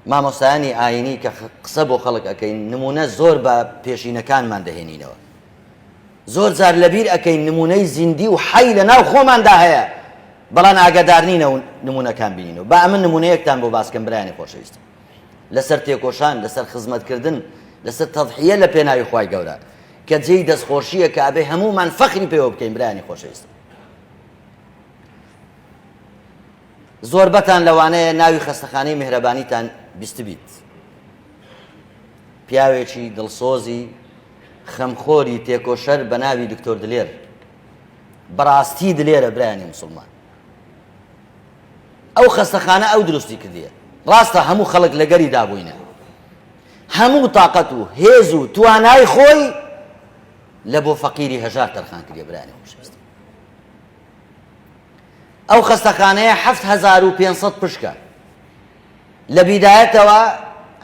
مامۆستایانی ئاینی کە قسە بۆ خەڵک ئەکەین نمونە زۆر بە پێشینەکانمان دەهێنینەوە زۆر جار لەبیر ئەکەین نمونەی زیندی و حەی لە ناو خۆماندا هەیە بەڵام ئاگادارنینە و نمونونەکان بینینەوە با ئەمن نمونەیەکتان بۆ باسکەم برایانی خۆشەویست لەسەر تێکۆشان لەسەر خزمەتکردن لەسەر تەضحیە لە پێناوی خی گەورە کە جێی دەستخۆشییە کە ئەبێ هەمومان فەخری پێوە بکەین برایانی خۆشەویست زۆربەتان لەوانەیە ناوی خەستەخانەی میهرەبانیتان بیستبیت، پیاوێکی دڵسۆزی خەمخۆری تێکۆشەر بەناوی دکتۆر دلێر، بەڕاستی دلێرە برایانی موسڵمان، ئەو خەستەخانە ئەو دروستی کردیە، ڕاستە هەموو خەڵک لەگەری دابووینە، هەموو تاقەت و هێز و توانای خۆی لە بۆ فەقیری هەژار تەرخان کردیە برایانی خۆشەویست. ئەو خەستەخانەیە حەفت هەزار و پێنج سەد پشکە لە بیدایەتەوە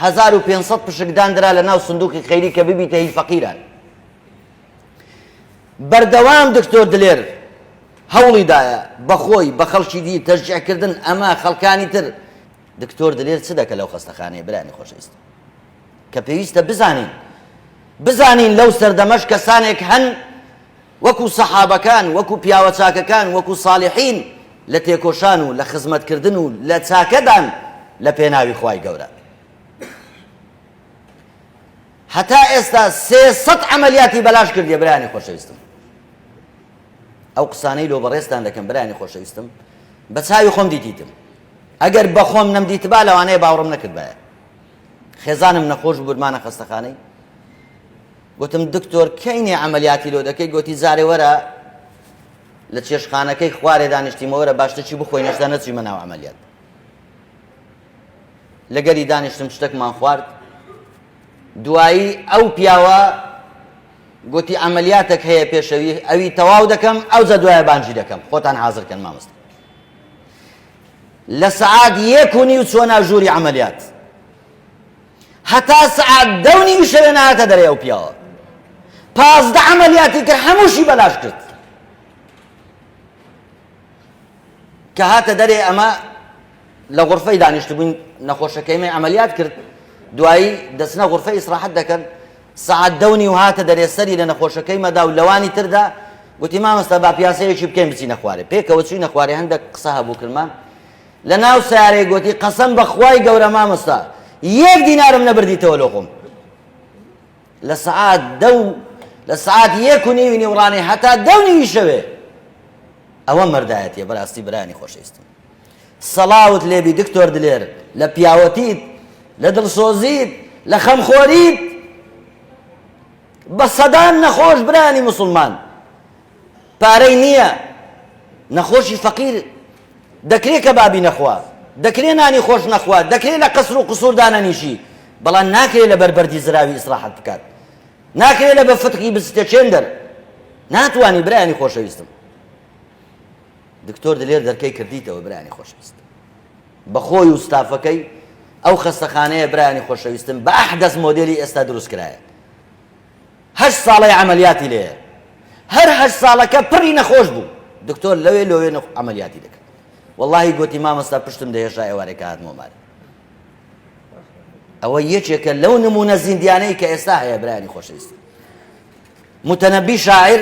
هەزار و پێنج سەد پشک داندرا لە ناو سندوقی خەیری کە ببیتە هی فەقیران بەردەوام دکتۆر دلێر هەوڵی دایە بەخۆی بە خەڵکی دی تەژجعکردن ئەمە خەڵکانی تر دکتۆر دلێر چ دەکە لەو خەستەخانەیە برانی خۆشەویست کە پێویستە بزانین بزانین لەو سەردەمەش کەسانێک هەن وەکو سەحابەکان، وەکو پیاوە چاکەکان، وەکو ساڵیحین لە تێکۆشان و لە خزمەت کردن و لە چاکەدان لە پێناوی خوای گەورە. هەتا ئێستا سێ سەد عەمەلیاتی بەلاش کردیە برایانی خۆشەویستم. ئەو قسانەی لۆ بەڕێزتان دەکەم برایانی خۆشەویستم بە چاوی خۆم دیدیتم. ئەگەر بەخۆم نەمدیتبا لەوانەیە باوڕم نەکردبایە. خێزانم نەخۆش بوو برمانە خەستەخانەی گوتم دکتۆر کەینێ ئەعملیاتی لۆ دەکەی گوتی زارێ وەرە لە چێشخانەکەی خوارێ دانیشتیمەوەرە باشتەچی بخۆی نەشدا نەچیمە ناو ئەعملیات لەگەری دانیشتم شتەکمان خوارد دوایی ئەو پیاوە گوتی ئەعملیاتێک هەیە پێشەوی ئەوی تەواو دەکەم ئەو جە دوایە بانجی دەکەم خۆتان حاضرکەن مامست لە سەعات یەک و نیو چووە ناو ژووری عەمەلیات هەتا سەعات دە و نیو شەوێ نەهاتە دەرێ ئەو پیاوە پازدە عەمەلیاتی تر هەمووشی بەلاش کرد کە هاتە دەرێ ئەمە لە غرفەی دانیشتبووین نەخۆشەکەیمە عملیات کرد دوایی دەچنە غرفە ئیسراحەت دەکەن سەعات دە و نیو هاتە دەرێ سەری لە نەخۆشەکەیمە دا و لەوانی تردا گوتی مامۆستا با پیاسەیەکی بکەین بچینە خوارێ پێکەوە چووینە خوارێ هەندەک قسە هەبوو کردمان لە ناو سارەی گوتی قەسەم بە خوای گەورە مامۆستا یەک دینارم نەبردیتەوە لۆ خۆم لە سەعات دە و لە سەعات یەک و نیوی نیوڕانێ هەتا دە و نیوی شەوێ ئەوە مەردایەتیە بەراستی برانی خۆشەویستم سڵاوت لێبی دکتۆر دلێر لە پیاوەتیت لە دڵسۆزیت لە خەمخۆریت بە سەدان نەخۆش برانی مسلمان پارەی نییە نەخۆشی فەقیر دەکرێت کە بابی نەخوا دەکرێ نانی خۆش نەخوا دەکرێت لە قەسر و قسوور دانەنیشی بەڵام ناکرێت لە بەربەردی زراوی ئیسراحەت بکات ناکرێت لە بە فتقی بستێ چێندەر ناتوانی برایانی خۆشەویستم دکتۆر دلێر دەرکەی کردیتەوە برایانی خۆشەویست بەخۆی و ستافەکەی ئەو خەستەخانەیە برایانی خۆشەویستم بە ئەحدەس مۆدێلی ئێستا دروست کرایە هەشت ساڵەی عملیاتی لێە هەر هەشت ساڵەکە پڕی نەخۆش بوو دکتۆر لەوێ لەوێ عملیاتی دەکرد واللهی گوتی مامەستا پشتم دەهێشا ئێوارێکە هاتمۆ مار ئەوە یەکێکە لەو نمونە زیندیانەی کە ئێستا هەیە برایانی خۆشەویست متەنەبی شاعر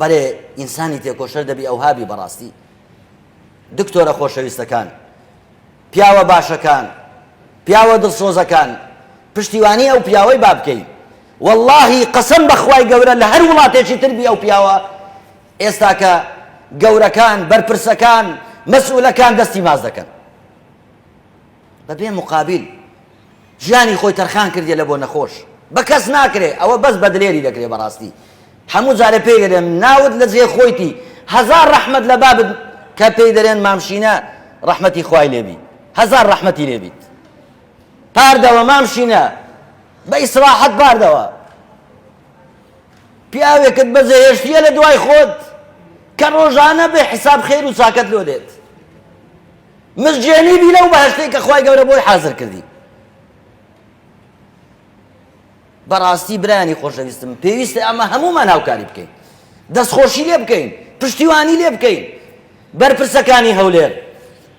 بەرێ ئینسانی تێکۆشەر دەبی ئەوها بی بەڕاستی دکتۆرە خۆشەویستەکان پیاوە باشەکان پیاوە دڵسۆزەکان پشتیوانی ئەو پیاوەی با بکەین واللهی قەسم بەخوای گەورە لە هەر وڵاتێکی تربی ئەو پیاوە ئێستاکە گەورەکان بەرپرسەکان مەسئولەکان دەستی ماز دەکەن بەبێ موقابیل ژیانی خۆی تەرخان کردیە لە بۆ نەخۆش بە کەس ناکرێ ئەوە بەس بە دلێری دەکرێ بەڕاستی هەموو جارێ پێی دەرێن ناوت لە جێ خۆیتی هەزار ڕەحمەت لە بابت کە پێی دەرێن مامشینە ڕەحمەتی خوای لێبی هەزار ڕەحمەتی لێبیت پاردەوە مامشینە بە ئیسراحەت پاردەوە پیاوێکت بەجێهێشتیە لە دوای خۆت کە ڕۆژانە بێ حساب خێر و چاکەت لۆ دێت مزگێنی بی لەو بەهەشتەی کە خوای گەورە بۆی حازر کردی. بەڕاستی برانی خۆشەویستم پێویستە ئەمە هەمومان هاوکاری بکەین دەستخۆشی لێ بکەین پشتیوانی لێ بکەین بەرپرسەکانی هەولێر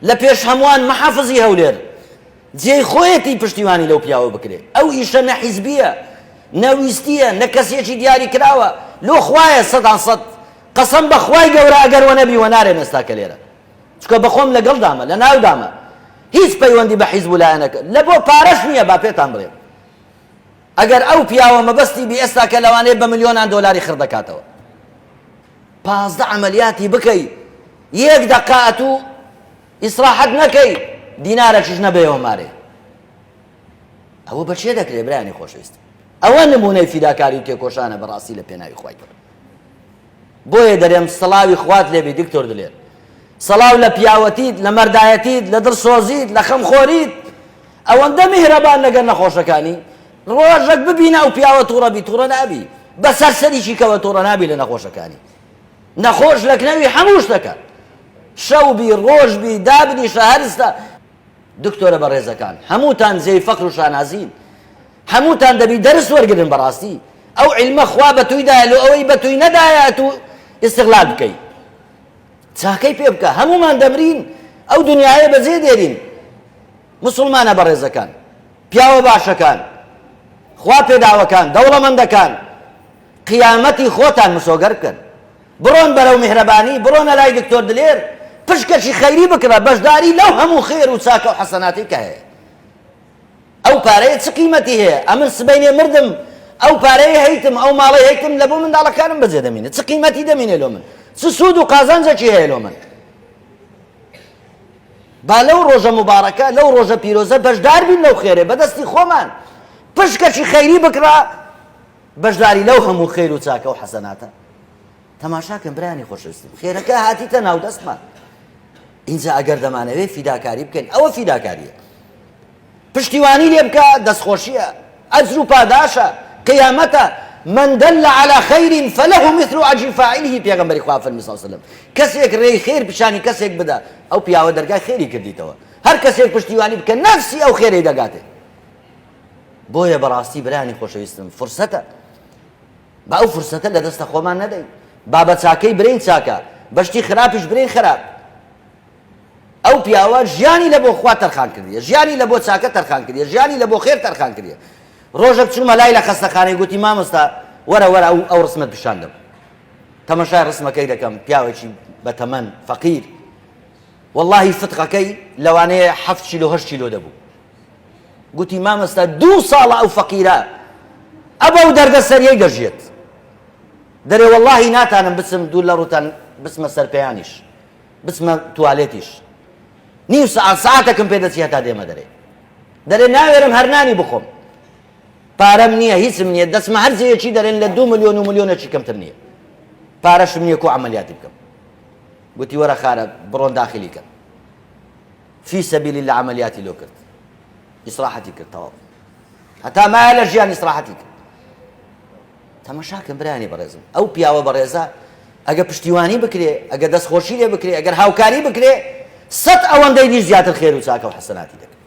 لە پێش هەمووان محافزی هەولێر جێی خۆیەتی پشتیوانی لەو پیاوە بکرێت ئەو ئیشە نە حیزبیە نەویستیە نە کەسێکی دیاری کراوە لۆ خوایە سەدان سەد قەسەم بەخوای گەورە ئەگەر وە نەبی وە نارێن ئێستا کە لێرە چکە بەخۆم لەگەڵدامە لەناودامە هیچ پەیوەندی بە حیزب و لایەنەکە لە بۆ پارەش نییە با پێتان بڵێم ئەگەر ئەو پیاوە مەبەستی بی ئێستا کە لەوانەیە بە ملیۆنان دۆلاری خڕ دەکاتەوە پازدە عملیاتی بکەی یەک دەقات و ئیسراحەت نەکەی دینارەکیش نەبێەوە مارێ ئەوە بەچێ دەکرێ برانی خۆشەویست ئەوە نمونەی فیداکاری و تێکۆشانە بەڕاستی لە پێناوی خۆی کرد بۆیە دەرێم سڵاوی خوات لێبی دکتۆر دلێر سڵاو لە پیاوەتیت لە مەردایەتیت لە دڵسۆزیت لە خەم خۆریت ئەوەندە میهرەبان لەگەر نەخۆشەکانی ڕۆژەک ببینە ئەو پیاوە توڕەبی توڕە نابی بەسەر سەریکی کەوە توڕە نابی لە نەخۆشەکانی نەخۆش لە کنەوی هەموو شتەکە شەوبی ڕۆژبی دابنیشە هەرستە دکتۆرە بەڕێزەکان هەمووتان زێی فەقر و شانازین هەمووتان دەبی دەرس وەرگرن بەڕاستی ئەو علمە خوا بەتوی دایە لۆ ئەوەی بەتوی نەدایە ئەتو استغلال بکەی چاکەی پێ بکە هەمومان دەمرین ئەو دنیاە بەجێ دێرین مسلمانە بەڕێزەکان پیاوە باشەکان خوا پێداوەکان دەوڵەمەندەکان قیامەتی خۆتان مسۆگەر بکەن بڕۆن بەرەو میهرەبانی بڕۆنە لای دکتۆر دلێر پشکەشی خەیری بکڕە بەشداری لەو هەموو خێر و چاکە و حەسەناتی کە هەیە ئەو پارەیە چ قیمەتی هەیە ئەمن سبەینێ مردم ئەو پارەی هەیتم ئەو ماڵەی هەیتم لە بۆ منداڵەکانم بەجێ دەمینێ چ قیمەتی دەمینێ لۆ من چ سوود و قازانجێکی هەیە لۆ من با لەو ڕۆژە مبارەکە لەو ڕۆژە پیرۆزە بەشدار بین لەو خێرێ بەدەستی خۆمان پشکەکی خەیری بکڕا بەشداری لەو هەموو خێر و چاکە و حەسەناتە تەماشاکەم برانی خۆشویستم خێرەکە هاتیتە ناو دەستمان اینجا ئەگەر دەمانەوێ فیداکاری بکەین ئەوە فیداکاریە پشتیوانی لێ بکە دەستخۆشیە ئەجر و پاداشە قیامەتە، من دل علی خیر فله مثل اجر فاعله پێغەمبەری خوا فەرمووی صلی اللە علیه وسلم کەسێک رێی خێر پیشانی کەسێک بدە ئەو پیاوە دەرگای خێری کردیتەوە هەر کەسێک پشتیوانی بکە نەفسی ئەو خێرەی دەگاتێ بۆیە بەڕاستی برانی خۆشەویستم فرسەتە با ئەو فرسەتە لە دەستە خۆمان نەدەین بابە چاکەی برین چاکە بەشتی خراپیش برین خراپ ئەو پیاوە ژیانی لە بۆ خوا تەرخان کردیە ژیانی لە بۆ چاکە تەرخان کردیە ژیانی لە بۆ خێر تەرخان کردیە ڕۆژەک چوومە لای لە خەستەخانەی گوتی مامۆستا وەرە وەرە ئەو ئەو ڕسمت پیشان دەم تەمەشای ڕسمەکەی دەکەم پیاوێکی بەتەمەن فەقیر واللهی فتقەکەی لەوانەیە هەفت کیلو هەشت کیلو دەبوو گوتی مامۆستا دوو ساڵە ئەو فەقیرە ئەبە و دەردە سەریەی دەژێت دەرێ واللهی ناتانم بچم دوور لە ڕوتان بچمە سەر پێیانیش بچمە توالێتیش نیو سەعات سەعاتەکم پێ دەچی هەتا دێمە دەرێ دەرێ ناوێرم هەر نانی بخۆم پارەم نییە هیچم نییە دەچمە هەر جێیەکی دەرێن لە دو ملیۆن و ملیۆنەکی کەمتر نییە پارەشم نییە کو عملیاتی بکەم گوتی وەرە خارە بڕۆن داخلی کەن فی سەبیلی لە عملیاتی لۆ کرد ئیسراحەتی کرد تەواو هەتا مایە لە ژیان ئیسراحەتی کرد تەماشاکە برایانی بەڕێزم ئەو پیاوە بەڕێزە ئەگە پشتیوانی بکرێ ئەگە دەست خۆشی لێ بکرێ ئەگەر هاوکاری بکرێ سەد ئەوەندەی دیش زیاتر خێر و چاکە و حەسەناتی دەکرێت